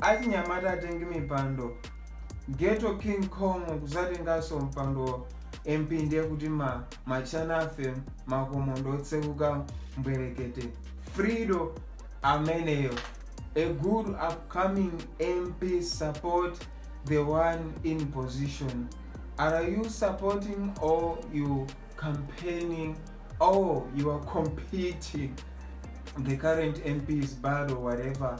achinyamata atenge mipando ghetto king kong kudzatenganso mpando mp ndiye kuti ma machana ife makomo ndi otsekuka mbwerekete Fredo ameneyo a good upcoming mp support the one in position are you supporting or you campaigning or you are competing the current mps bad or whatever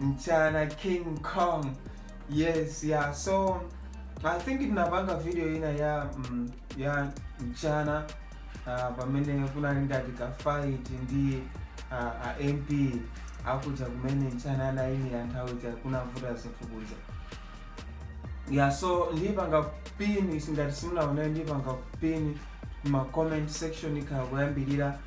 mchana king kong yes yeah so i think ndinapanga video ina ya mm, ya mchana uh, pamene kunali ngati ka fight ndi uh, a mp akuja kumene mchana anayimira nthawi ja kunavuta zinthu kuja yeah so ndipanga pin ngati simunaonayo ndipanga pin mu comment section ikhala kuyambirira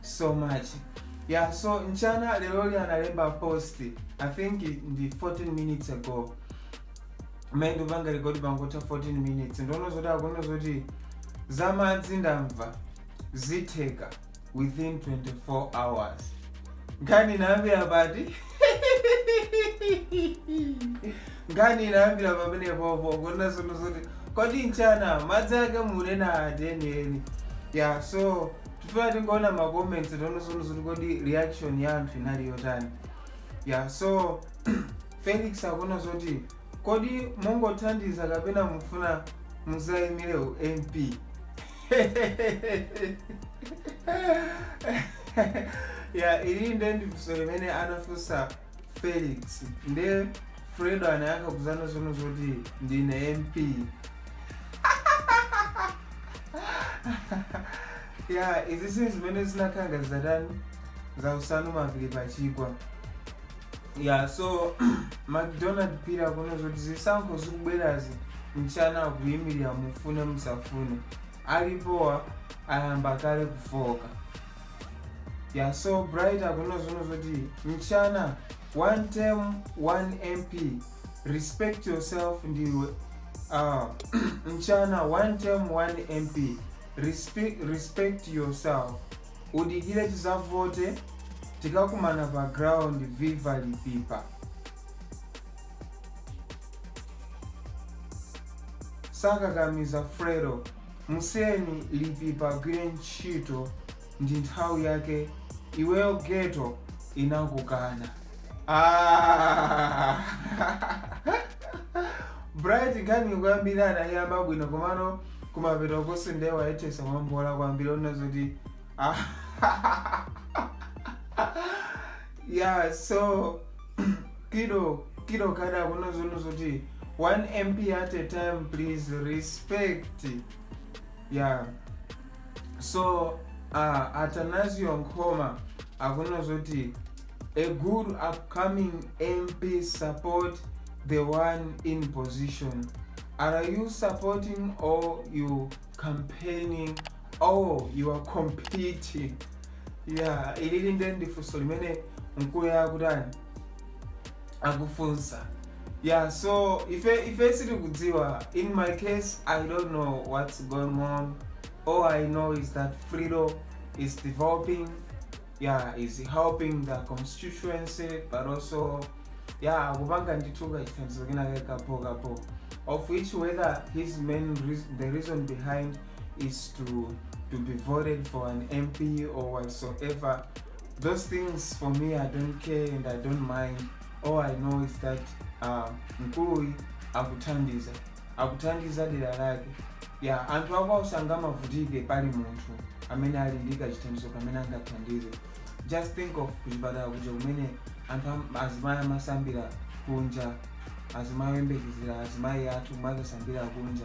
so much yeah so mchana leroli analemba post i think ndi 14 minutes ago mmene ndikupanga rekodi pangotha 14 minutes ndiona zoti akunena zoti za madzi ndamva zitheka within 24 hours nkhani inayambira pati nkhani inayambira pamene popo kunena zonena zoti kodi mchana madzi ake mukunena ati enieni yeah so tifuna tingoona ma comments tione zonena zoti kodi reaction ya anthu inali yotani ya so felix akunena zoti kodi mungothandiza kapena mufuna mudzayimire u mp ya ili nde ndi funso limene anafunsa felix nde fredo anayankha kuzanena zonena zoti ndine mp ya izi ndi zimene zinakhala ngati zatani zausanu mapiri pachigwa ya so macdonald Phiri akunena zoti zisankho zikubwerazi mchana akuyimirira mufune musafune alipowa ayamba kale kufoka ya so bright akunena zona zoti mchana one term one mp respect yourself ndiwe uh, mchana one term one mp respect, respect yourself udikire tizavote tikakumana pa ground viva lipipa sakakamiza frero musiyeni lipipa agwire ntchito ndi nthawi yake iweyo ghetto inakukana Ah! bright nkhani kuyambira anayiyamba bwino komano kumapetoko ndiye wayethesa mwambola kwambiri onena zoti ah. yeah so Kido Kido kada akuona zono zoti 1 mp at a time please respect yeah so uh, atanasio nkhoma akuona zoti a good upcoming mp support the one in position are you supporting or you campaigning or you are competing ya ili nde ndi funso limene mkuluyu akutani akufunsa yeah so ife ife sitikudziwa in my case i don't know what's going on all i know is that Fredo is developing yeah is helping the constituency but also yeah akupanga ndithu kachithandizo kenake kapo kapo of which whether his main reas- the reason behind is to to be voted for an MP or whatsoever. Those things for me, I don't care and I don't mind. All I know is that uh, mkuluyu akuthandiza akuthandiza dera lake ya anthu akwawo sangamavutike pali munthu amene ali ndi kachithandizo kamene angathandize just think of kuchipatala kuja kumene anthu am- azimayi amasambira kunja azimayi oyembekezera azimayi athu kumakasambira kunja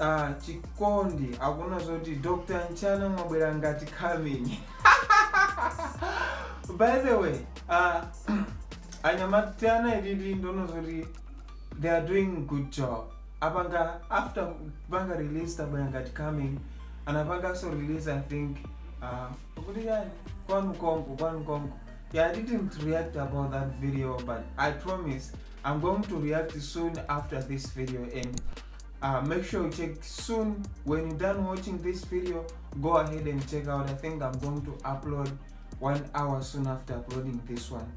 Ah, chikondi akunena zoti dr nchana mwabwera ngati coming by the way ah, anyamata aja i really don't know zoti they are doing good job apanga after kupanga release tabwera ngati coming anapanganso release i think ah, kuti yani kwanu konko kwanu konko yeah i didn't react about that video but i promise i'm going to react soon after this video and uh, make sure you check soon when you're done watching this video go ahead and check out i think i'm going to upload one hour soon after uploading this one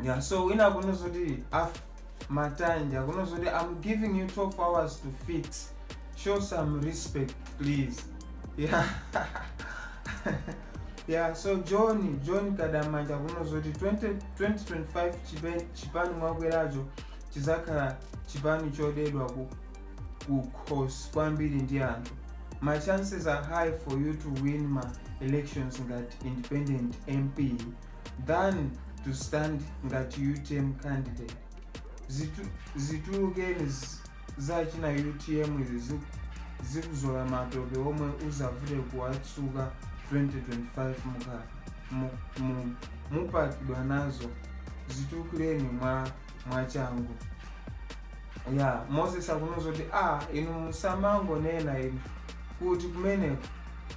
yeah so when i'm gonna do the after my time you're gonna say i'm giving you 12 hours to fix show some respect please yeah yeah so john john kadamanja kunozoti 2025 chipani mwakweracho chidzakhala chipani chodedwa kukhosi kwambiri ndi anthu ma chances are high for you to win ma elections ngati independent mp than to stand ngati utm candidate Zitu, zitulukeni z- za china utm izi zi- zikuzola matope omwe uzavute kuwatsuka 2025 muka mu- mu- mupakidwa nazo zitulukeni mwa mwachangu ya moses akuwauza kuti a inu musamangonena inu kuti kumeneko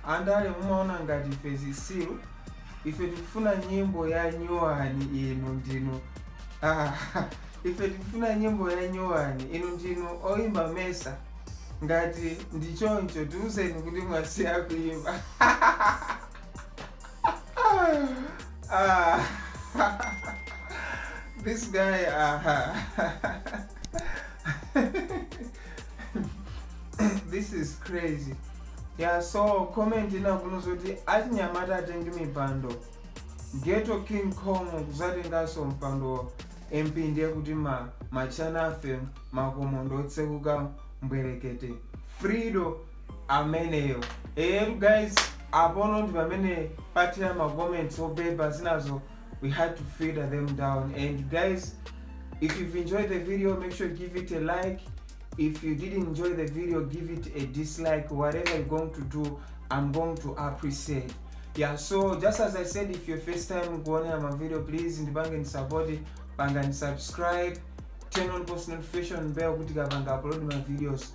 andale mumaona ngati ife zitsiru ife tikufuna nyimbo ya nyowani inu ndinu ah, ife tikufuna nyimbo ya nyowani inu ndinu oyimba mesa ngati ndi choncho tiuzeni kuti mwasiya kuimba uh, this guy uh, this is crazy yeah so comment inakuno zoti atinyamata atenge mipando geto king kong kuzatenganso mpando mp ndiye kuti ma machana afe makomo ndotsekuka mbwerekete frido ameneyo eyetu guys apono ndi pamene pathera ma comments obeba zinazo we had to filter them down and guys if you've enjoyed the video make sure give it a like if you didn't enjoy the video give it a dislike whatever you're going to do i'm going to appreciate yeah so just as i said if your first time kuonera ma video please ndipange ni support panga ni subscribe turn on post notification bell kuti kapanga upload my videos